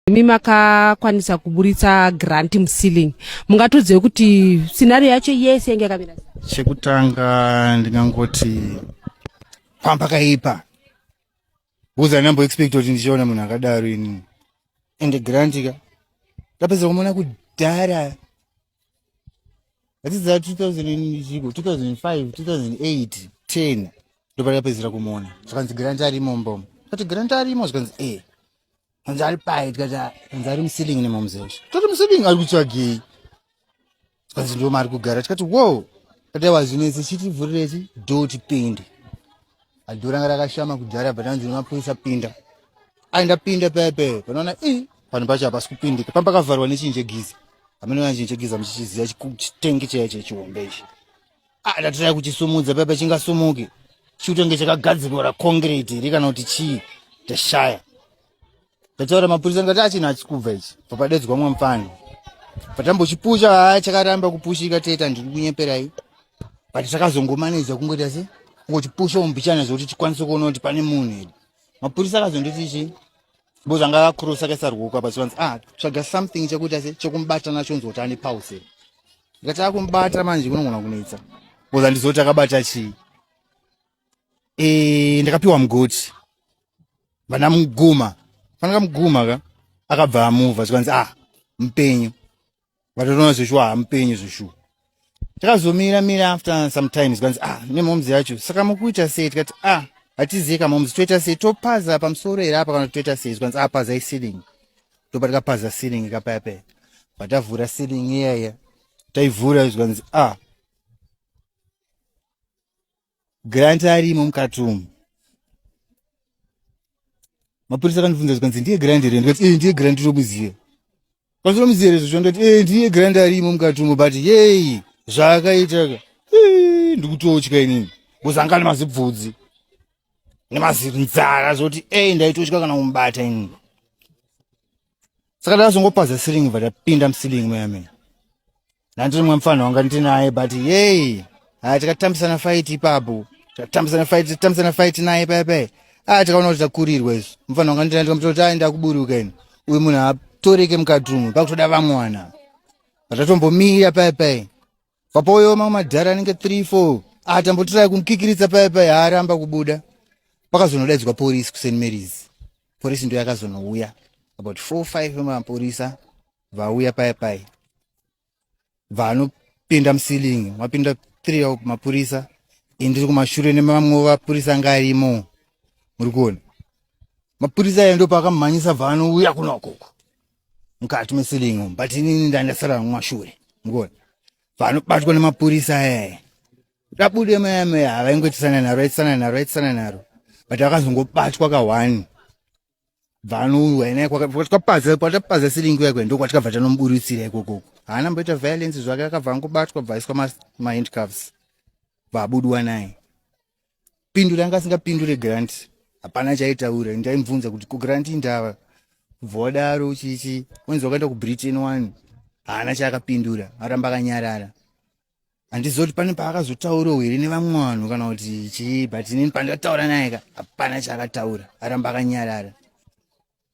imi makakwanisa kuburitsa grant muceiling mungatodzei kuti scenario yacho yese yange yakamira chekutanga ndingangoti pamba kaipa bcause andinambo expect kuti ndichiona munhu akadaro ini and grant ka ndapedza kumona kudhara atiza 2000 2005 2008 10 ndopandapedzera kumona zvikanzi grant arimo mbomo kati grant arimo zvikanzi e eh. Hanzi ari paye tikati hanzi ari musilingi nemamuzesha. Tati musilingi ari kutsvagei? Hanzi ndo maari kugara tikati wow. Kati awa zvinetsi chiti vhurireti do tipinde. Ado ranga rakashama kudhara but hanzi nemapurisa pinda. Aenda pinda paye paye panoona i pano pacho hapasi kupindika pamba pakavharwa nechinje giza. Amene wanjinje giza muchichiziya chitengi chaicho chihombe ichi. Ah, ndatirai kuchisumudza paya pachingasumuki chikutenge chakagadzirwa raconcrete ri kana kuti chii tashaya ndataura mapurisa ndikati achina achikubva ichi papadedzwa mwa mfana patambochipusha haa chakaramba kupushika teta ndiri kunyeperai but takazongomaneja kungoita se kungochipusha umbichana zvekuti tikwanise kuona kuti pane munhu here mapurisa akazonditi chii Bo zvanga vakurusa kaisa ruoko apa zvivanzi ah tsvaga something chekuita se chekumubata nacho nzoti ane pause. Ngati akumubata manje kunongona kunetsa. Bo zvandizoti akabata chii? Eh ndakapiwa mugoti. Vana muguma. Fanaka muguma ka akabva amuva zvikanzi ah mpenyu. vatotoona zveshuwa hamupenyu zveshuwa takazomira mira after sometimes kwanzi ah nemomz yacho saka mukuita sei tikati ah hatizivi kamomz toita sei topaza pamusoro here apa kana toita sei zvanzi ah pazai ceiling topa tikapaza ceiling kapaya paya patavhura ceiling iyaya taivhura zvanzi ah grant arimo mukati umu mapurisa akandibvunza zvikanzi ndiye grant here ndikati ee ndiye grant tomuziva kwanzi tomuziva here zvocho ndikati ee ndiye grant arimo mukati umu but yei zvaakaitaka ndikutotya inini kuzanga nemazibvudzi nemazinzara zoti ei ndaitotya kana kumubata inini saka ndakazongopaza siringi bva tapinda musilingi mayamene Nanzi mwa mfana wanga ndinaye but yey. Ah tikatambisana fight ipapo. Tikatambisana fight, tikatambisana fight naye paya paya. Ah tikaona kuti takurirwa izvo. Mfana wanga ndinaye ndikamuti aenda kuburuka ini. Uyu munhu atoreke mukati umu pakutoda vamwana. Patatombomira paya paya. Papoyo mamwe madhara anenge 3 4. Ah tambotirai kumkikiritsa paya paya haaramba kubuda. Pakazonodaidzwa police ku St Mary's. Police ndio yakazonouya. About 4 5 vemapurisa vauya paya paya vanopinda musilingi mapinda three of mapurisa indiri kumashure nemamwe vapurisa anga arimo muri kuona mapurisa aya ndo paakamhanyisa vanouya kuna ukoko mukati mesilingi umu but inini ndandasara mumashure mukuona vanobatwa nemapurisa aya rabude mayamaya havaingoitisana naro aitisana naro aitisana naro but akazongobatwa kahwani vanouya naye kwatikapaza kwatapaza siringi yakwe ndo kwatikabva tanomuburitsira ikokoko haana mboita violence zvake akabva angobatwa bvaiswa mahandcuffs bvabudiwa naye pindure anga asingapindure grant hapana chaitaura ndaimubvunza kuti ko grant indava kubva wadaro chichi wenzi wakaenda kubritain one haana chaakapindura aramba akanyarara handizoti pane paakazotaurawo here nevamwe vanhu kana kuti chii but inini pandataura naye ka hapana chaakataura aramba akanyarara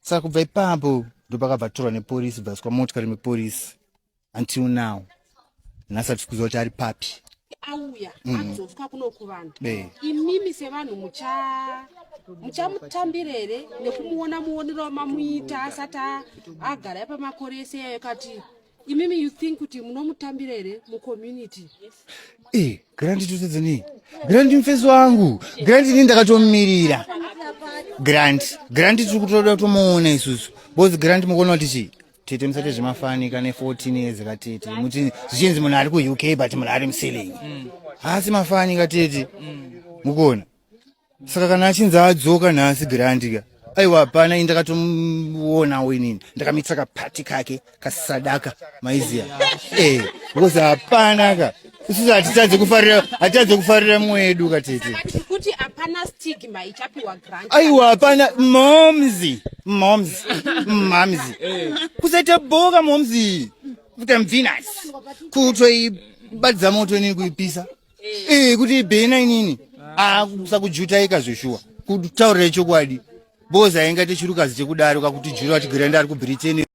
saka kubva ipapo ndopakabva torwa neporisi bvaswa motikari meporisi until now nhasi atisi kuziva kuti ari papi auya mm. anzoswa kuno kuvanhu imimi sevanhu mucha muchamutambira here nekumuona muonero mamuita asati agara epamakore ese yayo kati imimi you think kuti munomutambira here mucommunity eh, grandi totadza nei grandi mufesi wangu grandi ini ndakatomumirira grandi grandi tiri kutoda kutomuona isusu bcause grandi mukuona kuti chii tete musati zvemafanika ne 14 years katete muti zvichinzi munhu ari kuuk but munhu ari muselling mm. haasi mafanika tete mm. mukuona saka kana achinzi adzoka nhasi grandika aiwa hapana ini ndakatomuonawo inini ndakamitisa kapati kake kasadaka maiziya eh because hapana ka isusu hatitadze kufarira hatitadze kufarira mwedu katete kuti hapana stigma ichapiwa grant aiwa hapana momzi momzi mamzi kusaita boka momzi kuita mvinasi kutoibatidza moto inini kuipisa eh kuti ibhena inini ah kusakujuta ika zveshuwa kutaurira chokwadi boza inga techirukazi chekudaro kakuti jura kuti granda ari ku Britain